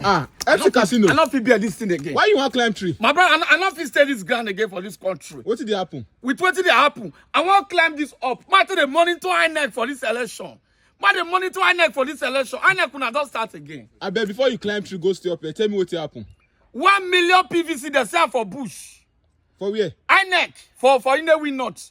Ah, empty casino. I no fit bear this thing again. Why you wan climb tree? My brother, I no, I no fit stay this ground again for this country. Wetin dey happen? With wetin dey happen, I wan climb this up. Ma to dey monitor INEC for this election. Ma dey monitor INEC for this election. INEC una don start again. Abeg, before you climb tree, go stay up here. Tell me wetin happen. One million PVC dey sell for bush. For where? INEC for for Inewi North.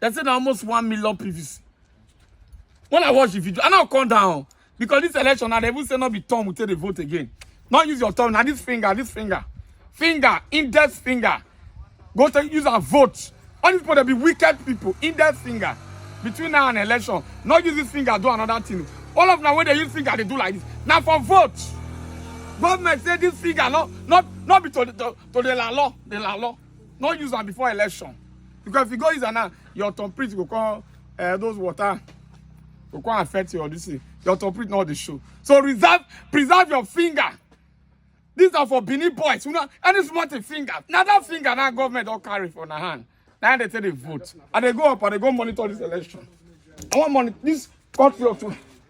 They say na almost one million PVC. When I watch the video, I now come down because this election, now they even say not be Tom will take the vote again. Not use your thumb, now this finger, this finger, finger, index finger. Go to use a vote. All these people they be wicked people, index finger. Between now and election, not use this finger, do another thing. All of now when they use finger, they do like this. Now for vote. Government say this finger, not not not be to the to, to the law, the law. no use am before election because if you go use am now your thumbprint go come uh, those water go come affect your this thing your thumbprint no dey show so reserve preserve your finger these are for benin boys you know any small thing finger na that finger na government don carry for na hand na im dey take dey vote i dey go up i dey go monitor this election i wan monitor this country of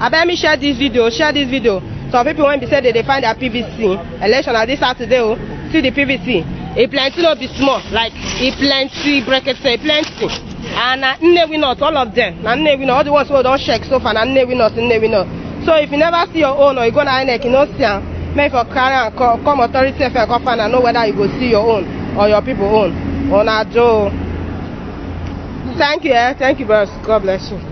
abeg me share dis video share dis video some pipo wey be say dey dey find dia pvc election na dis saturday o see di pvc e plenty no be small like e plenty brekete e plenty and na nnewi north all of dem na nnewi north all di ones wey don check so far na nnewi north nnewi north so if you never see your own or you go na inec you no see am make you for carry am come come authority sef come find am know whether you go see your own or your pipo own una do o thank you eh thank you bros god bless you.